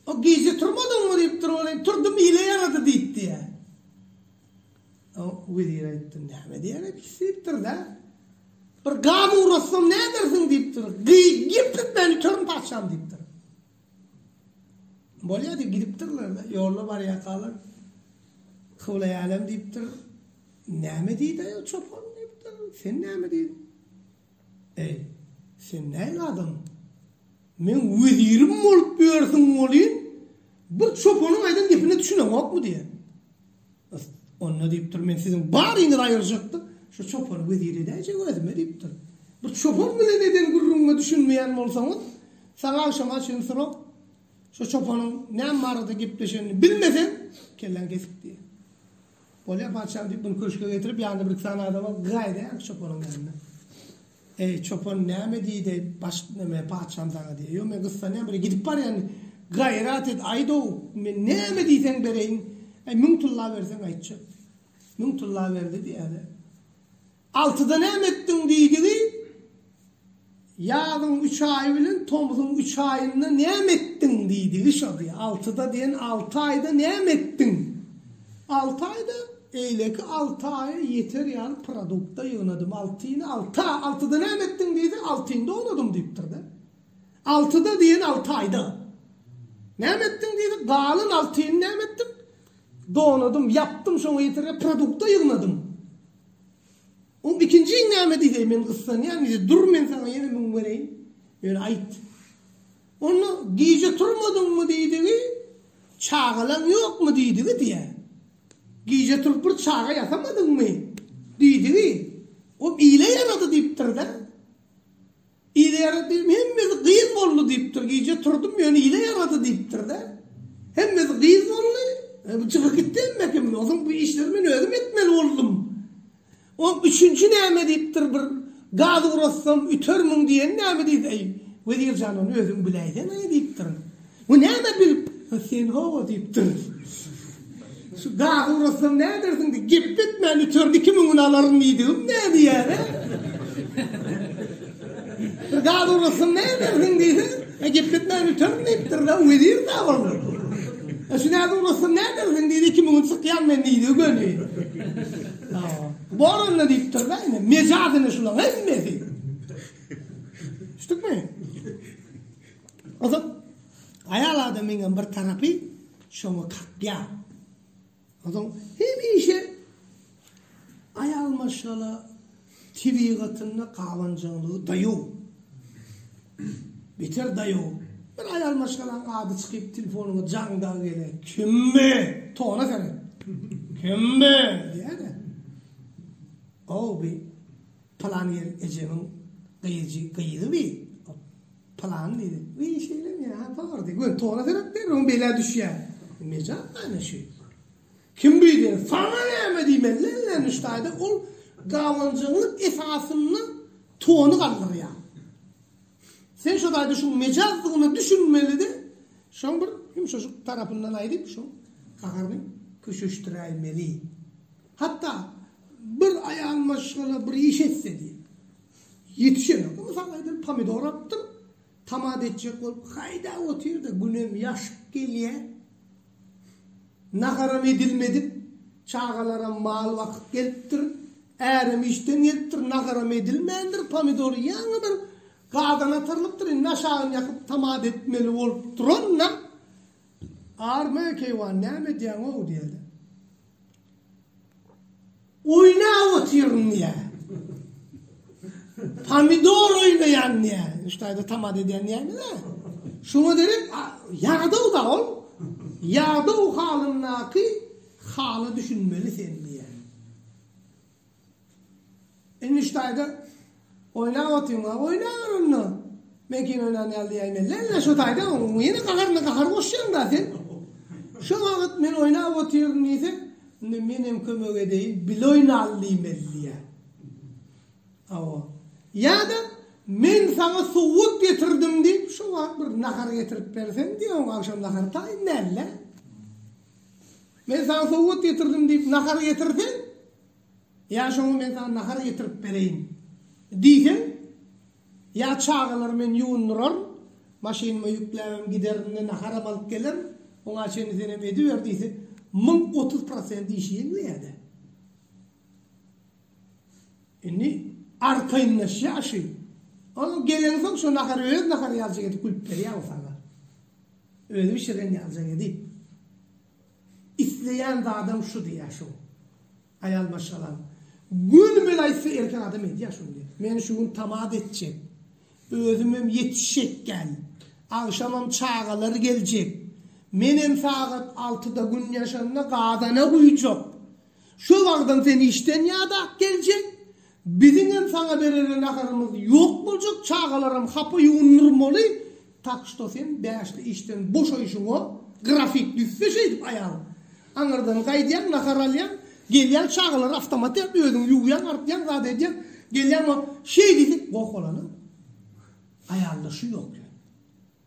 S1: O gije turmadyňmy diýipdir welin, turdum ile ýarady diýip diýýä. O wezir aýtdy, näme diýýär epis diýipdir-dä. Bir gaz ugratsam nädersiň diýipdir. Gyýyp geplet meni, törn patyşam diýipdir. Bolýar diýip gidipdirler, ýolda barýarkalar Kyblaýalem diýipdir, Näme diýdi-aý o çopan diýipdir, Sen näme diýdiň? Eý, sen nähili adam? Meň wezirim bolup ýörsüň welin, bir çopanyň aýdan gepine düşüneňokmy diýýär. Onda diýipdir, men siziň baryňyzy aýyrjakdym, şu çopany wezir edäýjek özüme diýipdir. Bir çopan bilen eden gürrüňiňe düşünmeýän bolsaňyz, saňa agşama çenli sorag, şu çopanyň näme barada gepleşenini bilmeseň, kelläňi kesip diýýär. Bolýar patyşam diýip, muny köşge getirip, ýanynda bir-iki sany adama gaýdýar çopanyň ýanyna. Eý, çopan näme diýdi, baş näme, patyşam saňa diýýär. Ýo, men gyssa näme bir gidip barýan, gaýrat et, aýt-ow, men näme diýseň bereýin, äý, müň tylla berseň aýtjak. Müň tylla berdi diýýär-de. Altyda näme etdiň diýdigi, ýazyň üç aýy bilen tomzuň üç aýynda näme etdiň diýdigi şo diýýär. Altyda diýen alty aýda näme etdiň? Alty aýda Eýleki alty aýa ýeter ýaly produkt-da ýygnadym. Altyny alty a, altyda näme etdiň diýse, altyny doňadym diýipdir-de. Altyda diýen alty aýda. Näme etdiň diýse, galan altyny näme etdim? Doňadym, ýapdym, şoňa ýeter ýaly produkt-da ýygnadym. Oň ikinjini näme diýseý, men gyssanýan diýse, dur men saňa ýene müň bereýin. Ýöne aýt. Onda gije turmadyňmy diýdigi, çagalaň ýokmy diýdigi diýýär. Gije turup bir çaga ýasamadyňmy diýdigi, o ile ýarady diýipdir-dä. Ile ýarady diýdim, hemmesi gyz boldy diýipdir. Gije turdum, ýöne ile ýarady diýipdir-dä. Hemmesi gyz boldy. Bu çykyp gitdi hemmekim. Onuň bu işlerini men özüm etmeli boldum. Oň üçünji näme diýipdir bir gaz uratsam ütermiň diýeni näme diýdi eý wezir jan ony özüň biläýseňä diýipdir bu näme bilip ha sen hawa diýipdir şu gazy uratsam nädersiň diýip gep etmän üterdi iki müňüni alaryn diýdigim näme ýa ne. Bir zat ugrasyn ne edersiň diýse, e gep gitmän üterin diýipdir-de, wezir ne boldy? E şu näde ugrasyn ne edersiň diýdi, iki müňi çykýan men diýdi, göni. Bor onda diýipdir-de, ine, mejadyny şulaň hemmesi. Düşdükmi? Ozat, aýal adamyň hem bir tarapy şoňa kakýar. Adam hemişe aýal maşgala tebigatynda gabanjaňlygy daýaw. Beter daýaw. Bir aýal maşgalaň ady çykyp telefonyňa jaňdag gele. Kimmi? Tona seni. Kimmi? Diýäne. Ow bi Pylan ýer ejemiň gyýjy gyýgy bi pylan diýdi. Bi şeýlemi ýa bar diýdi. Gör tora serek ber oň belä düşýä. Mejap näme şü. Kim bi diýdi. Saňa näme diýmeli ellen düşdäde ol gawanjyňlyk esasynda tony galdyrýa. Sen şo daýda şuň mejazdygyna düşünmelidi. Şoň bir ýumşaşyk tarapyndan aýdyp şo gaharyny köşeşdiräýmeli. Hatda bir aýal maşgala bir iş etse diýip, ýetişenok. Mysal aýdym, pomidor alypdyr, tomat etjek bolup haýdap otyr-da, günem ýaşyp gelýär. Naharam edilmedik, çagalaram mal bakyp gelipdir, ärem işden gelipdir, naharam edilmändir, pomidor ýaňy bir gazana atyrylypdyr, indi aşagyny ýakyp tomat etmeli bolup duran-da, Arman keýwan, näme edýäň-ow? diýýär-de. Oýnap otyryn diýýär. Pomidor oýnaýan diýýär. Şu taýda tamada edýän diýýärmi-le? Şoňa derek ýadaw-da ol. Ýadaw halyndaky hala düşünmeli sen diýýär. Engiş taýda oýlap otyň-a, oýlaber onda. Men kino oýnan ýaly diýäýin ellä-ellä şo taýda, oň ýene gaharyna gahar goşýaň-da sen. Şo wagt men oýlap otyryn diýse, onda men hem kömek edeýin, bile oýnaly diýmeli diýýär. Hawa. Ýa-da Men saňa sowgat getirdim diýip, şo wagt bir nahar getirip berseň diýýär, oň agşam nahary taýyn däl-dä. Men saňa sowgat getirdim diýip nahar getirseň, ýa şoňa men saňa nahar getirip bereýin diýseň, ýa çagalary men ýuwundyraryn, maşynyma ýükläbem giderin-de naharam alyp gelerin, oňa çenli senem ediber diýse, müň otuz prosent işi ýeňleýä-dä. Indi arkaýynlaşýar şu. Ol gelensoň şo nahary öz nahary ýalyja edip gülüp berýär ol saňa. Özi bişiren ýaljak edip. Isleýän zadam şu diýýär şoň. Aýal maşgalam. Göni men aýtsa erkek adam edýär şuny diýýär. Men şu gün tamada etjek. Özümem ýetişjek däl. Agşamam çagalar geljek. Menem sagat altyda gün ýaşanda gazana guýjak. Şo wagtam sen işden ýa-da geljek. Biziňem saňa berere naharymyz ýok boljak çagalaram hapa ýuwundyrmaly tak şto sen bäşde işden boşaýşyňa grafik düzse şeýdip aýalyň aňyrdan gaýdýaň nahar alýaň gelýäň çagalary awtomatýa özüň ýuwýaň artýaň zat edýäň gelýäň şeý diýsek goh bolany aýalda şu ýok ýöne.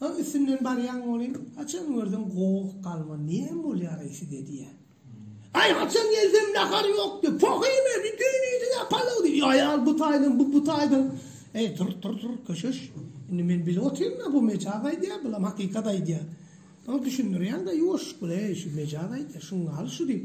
S1: Soň üstünden barýan bolýan, haçan görseň goh galma näme bolýareý size diýýä. Aý haçan gelsem nahar ýok diýip, poh iýme, bir düýn iýdiňä palaw diýip, ýa aýal bu taýdan, bu bu taýdan. Eý tur, tur, tur, köşeş. Indi men bilip otyryn-da bu mejaz aýdýar, bulam hakykat aýdýar. Soň düşündirýän-de ýuwaşlyk bilen, eý şu mejaz aýdýar, şuň galy şu diýip.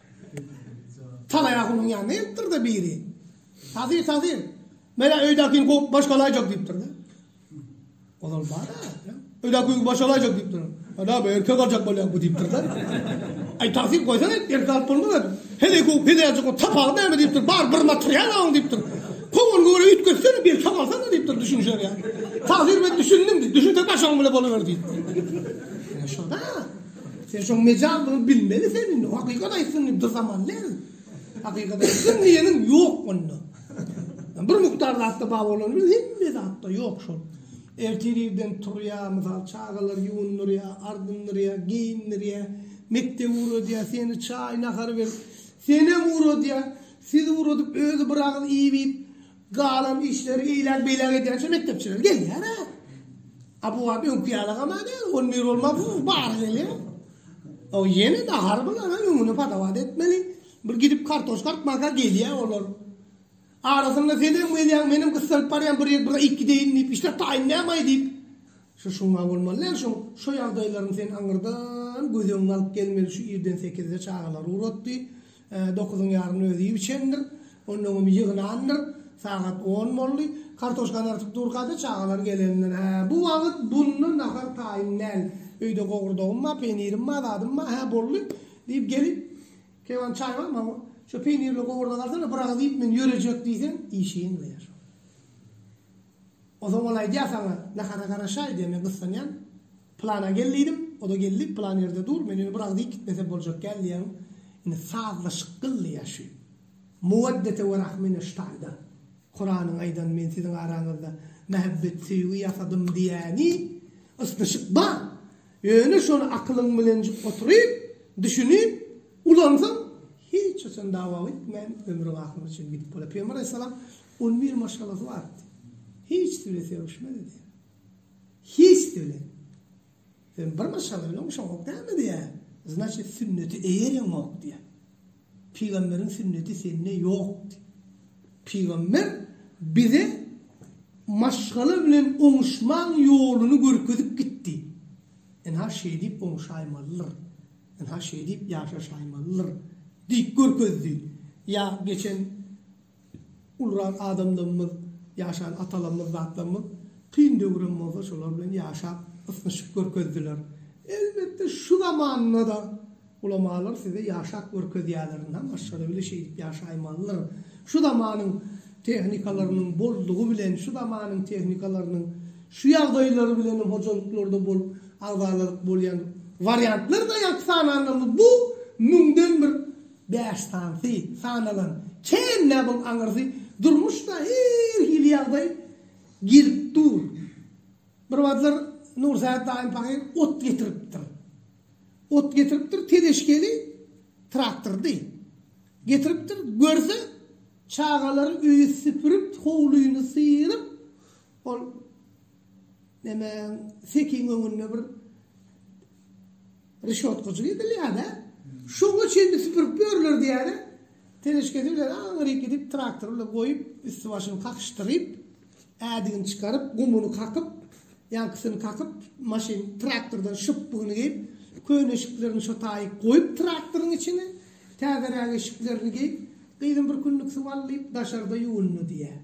S1: Talaýagulyň ýanyna gelipdir-de biri. Tazy, tazy, men-ä öýdäkini kowup başga alaýjak diýipdir-de. Ozal bar-a, öýdäkini başga alaýjak diýipdir. Ana, bu erkek aljak bolýar bu diýipdir-de. Aý, tazy, goýsana, erkek alyp bolmaz-a. Heleý kowup, heleý aljak bolup tapagy näme diýipdir. Bar bir material-a oň diýipdir. Kowanyny göwrä üýtgetsene, bir sak alsana diýipdir, düşünişer ýaly. Tazy, men düşündim diýip, düşünseň başyň bilen boluber diýipdir. Ine şo-da. Sen şoň mejaz muny bilmeli sen indi hakykat aýtsyn diýip bir zaman däl hakykat aýtsyn diýeniň ýok onda bir mukdar zatda bar bolany bilen hemme zatda ýok şol ertir irden turýa mysal çagalar ýuwundyrýa ardyndyrýa geýindirýa mekdep ugradýa seni çaý nahar berip senem ugradýa siz ugradyp özi bir agyz iýip iýip Galan işleri iýläk beýläk edýänçä mekdepçiler gelýärä. A bu wagt öňki ýaly gama däl, on bir bolma bu bary gelýär. O ýene nahar bilen öňüni padawat etmeli. Bir gidip kartoşka artmaka gelýär olar. Arasynda senem gelýäň, menem gyssanyp barýan bir ýer bir iki deýin diýip işläp taýyn nämaý diýip. Şu şuňa bolmaly däl şuň. Şo ýagdaýlaryň sen aňyrdan göz öňüne alyp gelmeli şu irden sekizde çagalary ugratdy. Dokuzyň ýaryny özi iýip içendir. Ondan öň ýygnandyr. Sagat on boldy. Kartoşkany artyp durkady, çagalar gelendir. Hä, bu wagt bunda nahar taýyn däl. Öýde gowurdagym bar, peýnirim bar, zadym bar. Hä, boldy, diýip gelip, Kewan, çaý barmy, hawa, şo peýnirli gowurdagy alsana, bir agyz iýip, men ýörejek diýseň, işiň diýer. Ozal ol aýdýar saňa, Nahara garaşaý diýende gyssanýan. Plana gel diýdim, o-da geldi, plan ýerde dur, men ýöne bir agyz iýip gitmesem boljak däl diýýän. Indi sazlaşyk gyl diýýär şu. Muwaddete we rahm mineşştaýdan. Kuranyň aýdan men siziň araňyzda mähebbet, söýgi ýasadym diýýäni, ysnyşyk bar. Ýöne şony akylyň bilenjik oturyp, düşünip, ulansaň, hiç haçan dawa gitmän, ömrüň ahyryna çenli gidip bolar. Pygamber alaýhyssalam Ol bir maşgalasy bardy. Hiçsi bilen söýüşmezdi diýýär. Hiçsi bilen. Sen bir maşgala bilen uşaňok dälmi diýýär. Znaçit sünneti eýereňok diýýär. Pygamberiň sünneti sende ýokdy. Pygamber bize maşgala bilen oňuşmaň ýoluny görkezip gitdi. Ynha şeýdip oňuşaýmalydyr. Ynha şeýdip ýaşaşaýmalydyr diýip görkezdi. Ýa geçen Ulran adamlarymyz, ýaşan atalarymyz, zatlarymyz kyn döwrem bolsa şolar bilen ýaşap, ysnyşyp görkezdiler. Elbetde şu zamanda-da ulamalar size ýaşap görkezýärler, ynha maşgala bile şeýdip ýaşaýmalydyr. Şu zamanyň tehnikalarynyň boldugy bilen, şu zamanyň tehnikalarynyň şu ýagdaýlary bilen hem hojalyklarda bolup agzalaryk bolýan wariantlar-da ýaňky sananlarymyz bu müňden bir Bäş sanysy sanalan kän näboň aňyrsy durmuşda her hili ýagdaý gelip dur. Bir wagtlar Nursähet daýym pahyr ot getiripdir. Ot getiripdir, tezeşgeli traktordy. Getiripdir, görse, çagalary öýi süpürip, howlyny syryp, ol nemäň, sekiň öňünde bir. Rişotkaçyk edilýär-dä. Şoňa çenli süpürip ýörler diýýärler. Teleşkesi bilen aňryk gidip, traktory bilen goýup, üsti-başyny kakyşdyryp, ädigini çykaryp, gumuny kakyp, ýaňkysyny kakyp, maşyn traktordan şypbygyny geýip, köne eşiklerini şo taýy goýup traktoryň içine, täzeräk eşiklerini geýip, gyzym bir künlük suw al diýip, daşarda ýuwundy diýýär.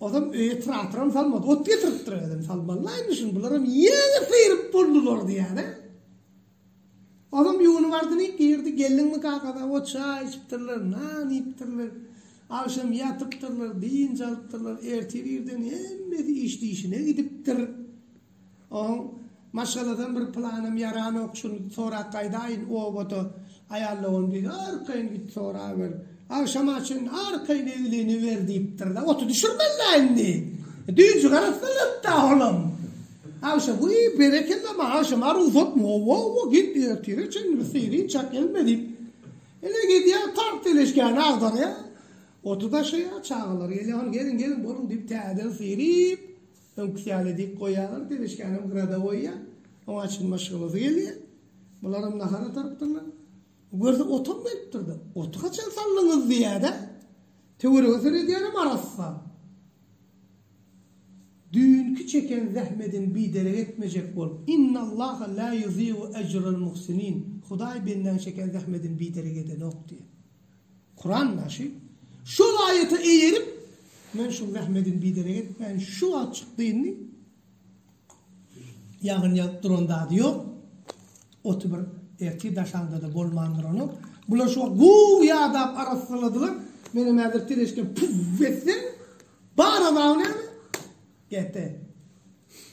S1: Ozem öýe traktoram salmady ot getiripdir özem salmallaýmyşyn bularam ýene syryp boldular diýýäne. Ozem ýuwunyp ardyny girdi geldiňmi kakada ot çaý içipdirler nan iýipdirler agşam ýatypdyrlar dynç alypdyrlar ertir irden hemmesi iş dişine gidipdir. Oň maşgaladan bir pylanym ýaranok şuny sorap gaýdaýyn obada aýal dogan diýdi arkaýyn git soraber agşama çenli arkaýyn eglini ber diýipdirda oty düşürmeliä indi düýji garassylypda olam agşa wiý berekella maňa agşama rugsat wowowo git ertire çenli bir syryň çak gelme diýip ine gidýä tagt teleşkäni agdarýa oty daşaýa çagalar gelýä hany geliň geliň boluň diýip täzeden syryp Öňküsi ýaly dik goýýarlar, perişkänem grada goýýar. Oňa açgyn maşgalasy gelýär. Bularam nahar atarypdyrlar. Görse otam gelipdir-de, Oty haçan saldyňyz diýýär-de. Töwerege seredýänem arassa. Düýnki çeken zähmediň biderek etmejek bol. Innallaha la ýuziýu ejral muhsinin. Hudaý bendäň çeken zähmedini biderek edenok diýýär. Kuran başy şol aýata eýerip, Men şu zähmediň biderek etmäýin, şu wagt çykdynmy, ýagyn ýagyp duran zady ýok, oty bir ertir daşaňda-da bolman duranok, bular şu wagt gowy ýadap arassaladylar, menem häzir tereşkam püww etsem, bar azaby näme? Gepe.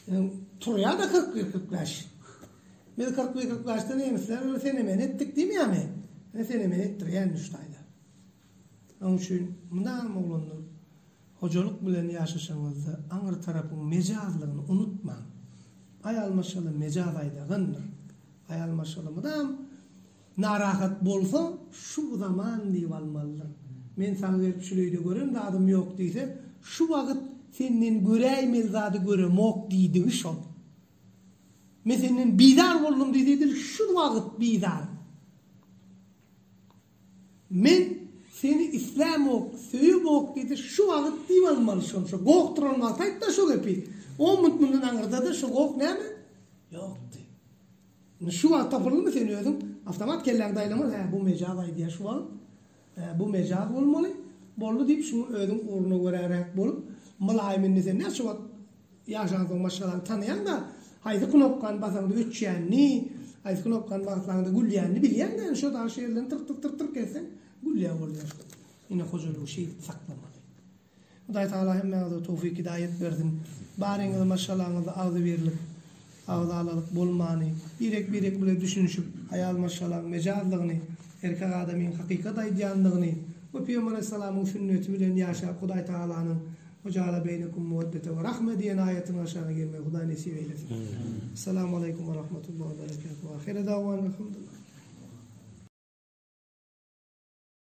S1: Ýöne turýa-da kyrk bir kyrklaş. Biz kyrk bir kyrklaşda nemisler bilen fenomen etdik diýmeýärmi? Ýöne fenomen etdirýän üç taýda. Onuň üçin mydam oglanlar hojalyk bilen ýaşaşaňyzda aňry tarapyň mejazlygyny unutmaň. Aýal maşgala mejaz aýdagyndyr. Aýal maşgala mydam Narahat bolsa şu zaman diýip almalydyr. Men saňa gelip şuleýde gören zadym ýok diýse, şu wagyt senden göräýmeli zady göremok diýdigi şol. Men senden bizar boldum diýse edil şu wagyt bizar. Men seni islämok, söýemok diýse şu wagyt diýip almaly şonça. Goh duran wagty aýtda şu gepi. On minut mundan aňyrda-da şu goh näme? Ýokdy. Indi şu wagt tapyldymy sen özüň awtomat kelläňi daýlaman hä bu mejaz aýdýa şu wagt hä bu mejaz bolmaly boldy diýip şuňa özüň ugruna göräräk bolup mylaýym indi sen näçe wagt ýaşansoň maşgalaňy tanaýaňda haýsy knopkany basaňda öçýänini haýsy knopkany basaňda gülýänini bilýäňdä indi şo daşy ýerlerini tyrk tyrk tyrk tyrk etseň gülýä bolýaň indi hojalygy şeýdip saklamaly. Hudaý Tagala hemmäňize towfik hidaýet bersin. Baryňyzy maşgalaňyzda agzybirlik, agzalalyk bolmany, birek-birek bile düşünişip, aýal maşgalaň mejazlygyny, erkek adamyň hakykat aýdýanlygyny we Pygamber aleyhissalamyň sünneti bilen ýaşap Hudaý Tagalanyň Ve jaala beýnekum muweddete ve rahme diýen aýatynyň aşagyna gelmegi Hudaý nesip eýlesin. Essalamu aleykum ve rahmetullah ve berekatuh. Ahire davwana elhamdulillah.